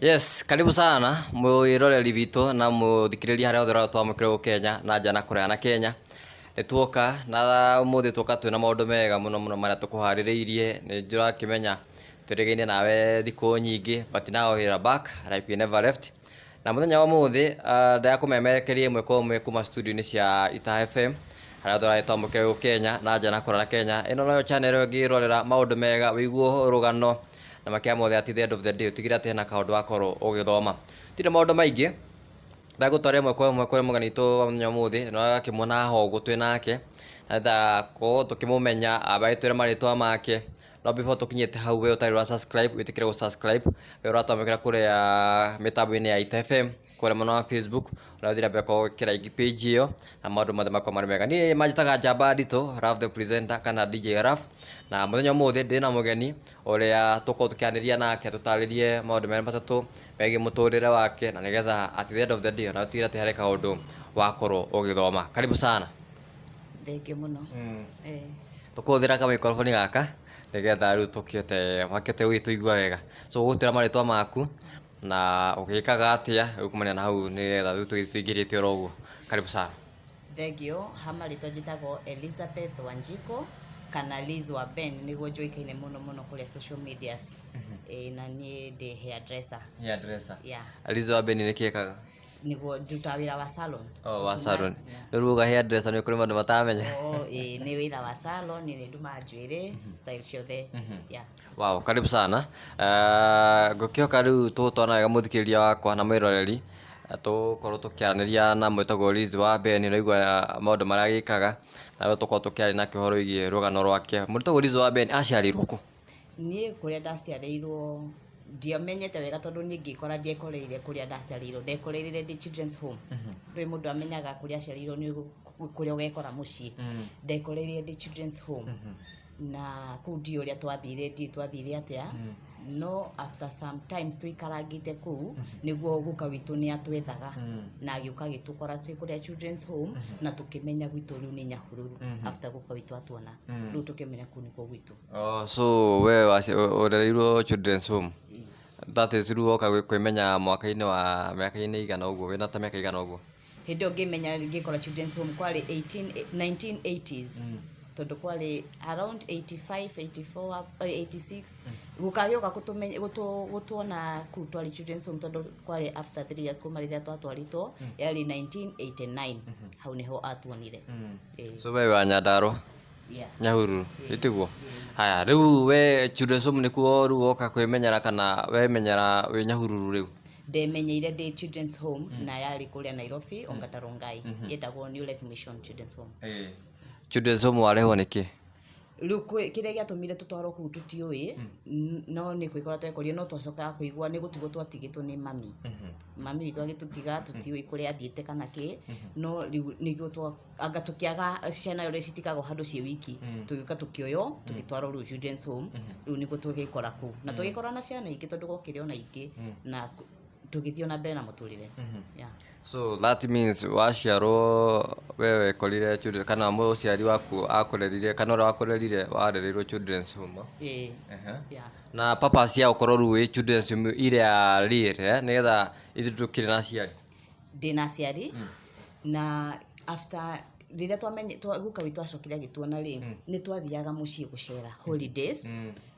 Yes, karibu sana mwiroreri witũ na mũthikĩrĩria harĩa othe ũratwa mũkĩrwo Kenya na nja na kũraya na Kenya. Nĩ tuoka na ũmũthĩ tuoka twĩna maũndũ mega mũno mũno marĩa tũkũharĩrĩirie. Nĩ ndĩrakĩmenya twĩrĩgaine nawe thikũ nyingĩ but now you are back like we never left. Na mũthenya wa ũmũthĩ ah, ndakũmemerekeria ĩmwe kwa ĩmwe kuma studio-inĩ cia Itaha FM harĩa othe ũratwa mũkĩrwo Kenya na nja na kũraya na Kenya. Ĩno noyo channel ĩngĩrorera maũndũ mega, wĩiguo rũgano na makĩra mothe at the end of the day ũtigĩre atĩ hena kaũndũ wakorwo ũgĩthoma. Gũtirĩ maũndũ maingĩ, ndagũtwara ĩmwe kwa ĩmwe kũrĩ mũgeni witũ wa mũthenya wa ũmũthĩ, na ũrakĩmuona haha ũguo twĩ nake, nĩgetha gũkorwo tũkĩmũmenya, ambe agĩtwĩre marĩtwa make, no before tũkinyĩte hau we ũtarĩ ũra subscribe wĩtĩkĩre gũ subscribe, we ũratwamũkĩra kũrĩa mĩtambo-inĩ ya Ita FM. kũrĩa mwena wa Facebook ũrathiĩ na mbere kwa gwĩkĩra igi page ĩyo na maũndũ mothe makwa marĩ mega niĩ manjĩtaga njamba nditũ Raf the presenter kana DJ Raf na mũthenya ũmũthĩ ndĩ na mũgeni ũrĩa tũkorwo tũkĩanĩria nake tũtarĩrie maũndũ merĩ matatũ megiĩ mũtũrĩre wake na nĩgetha at the end of the day ona ũtigĩre atĩ harĩ kaũndũ wakorwo ũgĩthoma karibu sana thengiũ mũno Eh, tũkũhũthĩra kamaikoroboni gaka nĩgetha rĩu tũkĩote makĩote gũgĩtũigua wega so gũgũtwĩra marĩtwa maku Na ũgĩkaga atĩa rĩu kumania na hau nĩgetha rĩu tũgĩthiĩ tũingĩrĩte oro ũguo? Karibu sana. Thengiũ, ha marĩtwa njĩtagwo Elizabeth Wanjikũ kana Liz wa Ben nĩguo njũĩkaine mũno mũno kũrĩa social medias. Ĩĩ na niĩ ndĩ hairdresser. Hairdresser. Yeah. Liz wa Ben nĩkĩ ekaga? Nĩguo ndutaga wĩra wa salon. Oh, wa salon. Yeah. Rĩu uga hairdresser nĩ kũrĩ maũndũ mataramenya. Oh, ĩĩ nĩ wĩra wa salon, nĩ ndumaga njuĩrĩ, style ciothe. Yeah. Wow, karibu sana. Uh, ngũkĩoka rĩu tũgũtwarana wega mũthikĩrĩria wakwa na mwĩroreri tũkorwo tũkĩaranĩria na mwĩtagwo Liz wa Ben ũraigua maũndũ marĩa agĩkaga na rĩu tũkorwo tũkĩaria na kĩhoro igiĩ rũgano rwake mwĩtagwo Liz wa Ben aciarirwo kũ niĩ kũrĩa ndaciarĩirwo ndiamenyete wega tondũ niĩ ngĩkora ndiekoreire kũrĩa ndaciarĩirwo ndekoreire ndĩ children's home mhm. ndũĩ mũndũ amenyaga kũrĩa aciarĩirwo nĩ kũrĩa ũgekora mũciĩ mhm. ndekoreire ndĩ children's home mhm. na kũu ndiũ ũrĩa twathire ndiũ twathire atĩa no after some times tũikarangĩte kũu nĩguo guka witũ nĩ atwethaga na agĩũka agĩtũkora twĩ kũrĩa children's home na tũkĩmenya gwitũ rĩu nĩ nyahururu after guka witũ atuona rĩu tũkĩmenya kũu nĩkuo gwitũ Oh, so we waci- ũ- ũrereirwo children's home that is rĩu woka gwĩ- kwĩmenya mwaka-inĩ wa mĩaka-inĩ igana ũguo wĩna ta mĩaka igana ũguo hĩndĩ ĩyo ngĩmenya ngĩkora children's home kwarĩ 18 1980s tondũ kwarĩ around 85 84 up- eh, 86 gũkagĩũka gũtũmenya- gũtũ- gũtuona kuu twarĩ children's home tondũ kwarĩ after 3 years kuma rĩrĩa twatwarĩtwo yarĩ 1989 hau nĩho atuonire Eh, so we wa nyandarwa yeah. nyahururu ĩtiguo haya rĩu we children's home nĩkuo rĩu woka kwĩmenyera kana wemenyera wĩ nyahururu rĩu ndemenyeire ndĩ children's home na yarĩ kũrĩa nairobi ongata rongai ĩtagwo new life mission children's home Eh. Children's home warehwo nĩ kĩ? rĩu kwĩ- kĩrĩa gĩatũmire tũtwarwo kũu tũtiũĩ n- no nĩ kwĩkora twekorire no twacokaga kũigua nĩ gũtigwo twatigĩtwo nĩ mami mami witũ agĩtũtiga tũtiũĩ kũrĩa athiĩte kana kĩ no rĩu nĩguo twa anga tukiaga ciana uri citikago handu ci wiki mm. tugiuka tukioyo mm. tugitwaro ru children's home mm-hmm. riu niguo tugikora ku na mm. tugikora na ciana ingi tondu gokire ona ingi na tugithio na mbere na muturire mm-hmm. yeah so that means waciarwo wewe korire children kana muciari waku akurerire kana ura wakurerire warerirwo children's home eh yeah na papa cia ukorwo ru children's home ire ri re eh, ni getha ithu tukire na ciari ndĩna aciari na after rĩrĩa twamenye twa- guka witũ acokire agĩtuona rĩ nĩ twathiaga mũciĩ gũcera holidays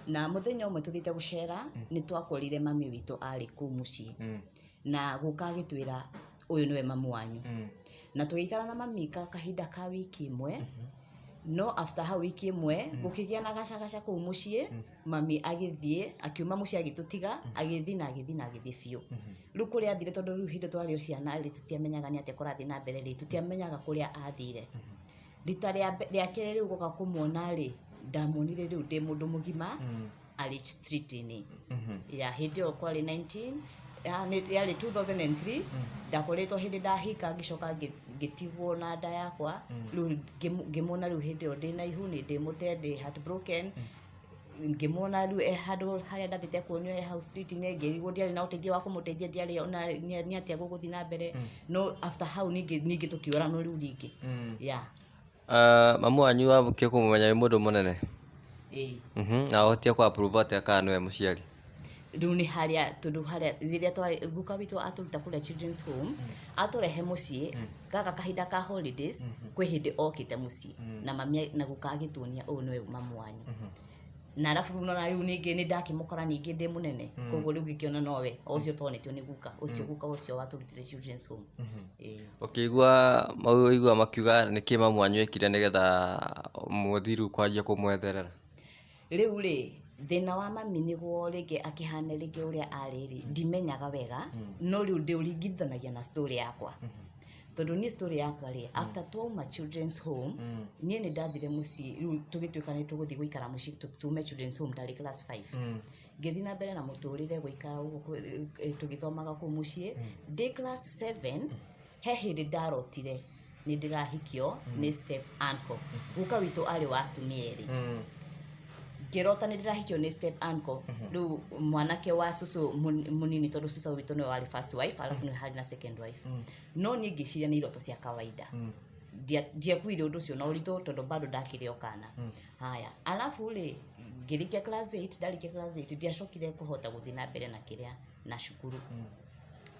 na mũthenya ũmwe tũthiĩte gũcera nĩ twakorire mami witũ arĩ kũu mũciĩ na gũka agĩtwĩra ũyũ nĩwe mamu wanyu na tũgĩikara na mami ka kahinda ka wiki ĩmwe no after hau wiki ĩmwe gũkĩgĩa na gacagaca kũu mũciĩ mami agĩthiĩ akiuma mũciĩ agĩtũtiga agĩthiĩ na agĩthiĩ na agĩthiĩ biũ Rĩu kũrĩa athire tondũ rĩu hĩndĩ twarĩ o ciana rĩ tũtiamenyaga nĩ atĩa kũrathiĩ na mbere rĩ tũtiamenyaga kũrĩa athire rita rĩa mbe- rĩa kerĩ rĩu gũka kũmuona rĩ ndamuonire rĩu ndĩ mũndũ mũgima arĩ street-inĩ ya hĩndĩ ĩyo kwarĩ 19 ya- nĩ- yarĩ 2003 ndakoretwo hĩndĩ ndahika ngĩcoka ngĩ- ngĩtigwo na nda yakwa rĩu ngĩmu- ngĩmuona rĩu hĩndĩ ĩyo ndĩ na ihu nĩ ndĩ mũte ndĩ heartbroken ngĩmwona rĩu e handũ harĩa ndathiĩte kuonio e hau street -inĩ ngĩrigwo ndiarĩ na ũteithio wa kũmũteithia ndiarĩ ona nĩ- nĩ atĩa gũgũthiĩ na mbere no after hau ningĩ ningĩ tũkĩoranwo rĩu rĩngĩ ya Ah, mamu wanyu wambũkia kũmũmenya wĩ mũndũ mũnene ĩĩ Mhm, na ũhotia kũ approve atĩa kana nĩwe mũciari rĩu nĩ harĩa tondũ harĩa rĩrĩa twarĩ guka witũ atũruta kũrĩa children's home atũrehe mũciĩ gaka kahinda ka holidays kwĩ hĩndĩ okĩte mũciĩ na mami a- na guka agĩtuonia ũyũ nĩwe mamu wanyu na arabu rĩu nona rĩu ningĩ nĩ ndakĩmũkora ningĩ ndĩ mũnene koguo rĩu ngĩkĩona nowe o ũcio tonetio nĩ guka ũcio guka ũcio watũrutire children's home Ĩĩ. ũkĩigua maigua makiuga nĩkĩ mamu wanyu ekire nĩgetha mũthiru kwanjia kũmwetherera Rĩu-rĩ, thĩna wa mami nĩguo rĩngĩ akĩhane rĩngĩ ũrĩa arĩ-rĩ, ndimenyaga wega, no rĩu ndĩũringithanagia na story yakwa. Tondũ niĩ story yakwa-rĩ, after twauma children's home, niĩ nĩndathire mũciĩ, rĩu tũgĩtuĩka nĩtũgũthiĩ gũikara mũciĩ tũ- tume children's home ndarĩ class five. Ngĩthiĩ na mbere na mũtũrĩre gũikara ũguo kũ- ĩ- tũgĩthomaga kũu mũciĩ. Ndĩ class seven, he hĩndĩ ndarotire nĩ ndĩrahikio mm. nĩ step uncle guka witũ arĩ wa atumia erĩ mm. ngĩrota nĩ ndĩrahikio nĩ step uncle mm-hmm. rĩu mm -hmm. mwanake wa cucu munini tondũ cucu witũ nĩwe warĩ first wife alafu mm. nĩ harĩ na second wife mm. no niĩ ngĩciria nĩ iroto cia kawaida mm ndiakuire undu ucio na uritu tondu bado ndakire okana mm. haya alafu ri ngirikia class 8 ndarikia class 8 ndiacokire kuhota guthina mbere na kiria na cukuru mm.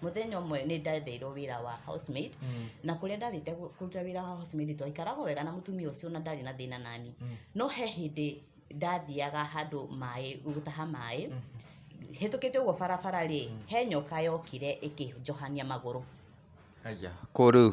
mũthenya ũmwe nĩ ndetheirwo wĩra wa house maid na kũrĩa ndarĩte gũ- kũruta wĩra wa house maid twaikaragwo wega na mũtumia ũcio na ndarĩ na thĩna nani no he hĩndĩ ndathiaga handũ maĩ gũtaha maĩ hĩtũkĩte ũguo barabara rĩ he nyoka yokire ĩkĩnjohania magũrũ Aya, kũ rĩu?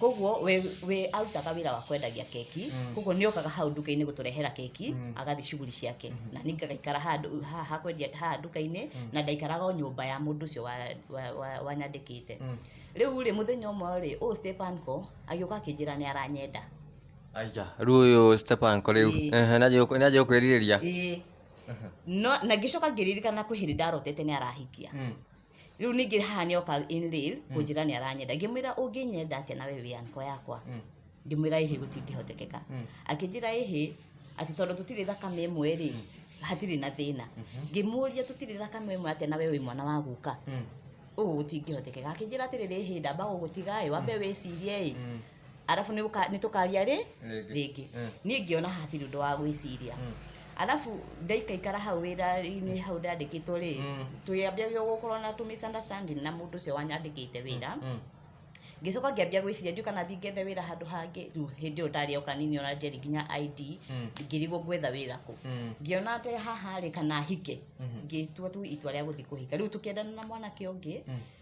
koguo we, we arutaga wĩra wa kwendagia keki koguo nĩ okaga hau nduka-inĩ gũtũrehera keki agathiĩ shughuli ciake na niĩ ngagaikara handũ haha ha kwendia haha nduka-inĩ na ndaikaraga o nyũmba ya mũndũ ũcio wa- wa- wa- wanyandĩkĩte rĩu rĩ mũthenya ũmwe rĩ ũũ stepanco agĩũka akĩnjĩra nĩ aranyenda aija rĩu ũyũ stepanko rĩu Ĩĩ. Ehe, nĩ anjĩrĩirie- nĩ anjĩrĩirie kwĩrirĩria ĩĩ no na ngĩcoka ngĩririkana kwĩ hĩndĩ ndarotete nĩ arahikia rĩu ningĩ haha nĩ oka in real kũnjĩra nĩ aranyenda ngĩmwĩra ũngĩnyenda atĩa nawe wĩ anko yakwa Mm. ngĩmwĩra ĩhĩ gũtingĩhotekeka Mm. akĩnjĩra ĩhĩ atĩ tondũ tũtirĩ thakame ĩmwe rĩ hatirĩ na thĩna ngĩmũria tũtirĩ thakame ĩmwe atĩa nawe wĩ mwana wa guka Mm. ũũ gũtingĩhotekeka akĩnjĩra atĩrĩrĩ ĩhĩ ndamba gũgũtiga ĩ wambe wĩcirie ĩ Mm. arabu nĩ ũka- nĩ tũkaria rĩ Rĩngĩ. rĩngĩ Mm. niĩ ngĩona hatirĩ ũndũ wa gwĩciria Mm. arabu ndaikaikara hau wĩra-inĩ hau ndandĩkĩtwo rĩ Mm. tũyambĩagio gũkorwo na tũ misunderstanding na mũndũ ũcio wanyandĩkĩte wĩra Mm. ngĩcoka ngĩambia gwĩciria ndiũ kana ndingethe wĩra handũ hangĩ rĩu hĩndĩ ĩyo ndarĩ oka nini ona njeri nginya id Mm. ngĩrigwo ngwetha wĩra kũ Mm. ngĩona atĩ haha rĩ kana hike Mhm. ngĩtua tu itua rĩa gũthiĩ kũhika rĩu tũkĩendana na mwanake ũngĩ Mm.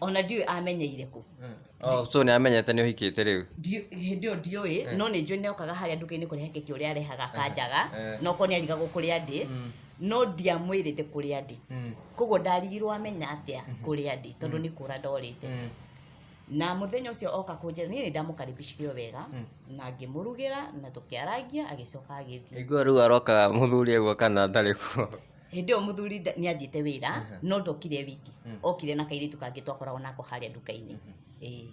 ona ndiũĩ amenyeire kũ Oh, so nĩ amenyete nĩ ũhikĩte rĩu Ndiũ- hĩndĩ ĩyo ndiũĩ no nĩ njũĩ nĩokaga harĩa nduka-inĩ kũrehe keki ũrĩa arehaga kanjaga eh. no korwo nĩ arigagwo kũrĩa ndĩ no ndiamwĩrĩte kũrĩa ndĩ koguo ndarigirwo amenya atĩa kũrĩa ndĩ tondũ nĩ kũra ndorĩte na mũthenya ũcio oka kũnjĩra niĩ nĩ ndamũkaribicire o wega na ngĩmũrugĩra na tũkĩarangia agĩcoka agĩthiĩ iguo rĩu aroka mũthuri aguo kana ndarĩ kuo hĩndĩ ĩyo mũthuri nda- nĩ athiĩte wĩra no ndokire e wiki okire na kairĩtu kangĩ twakoragwo nako harĩa nduka-inĩ Ĩĩ.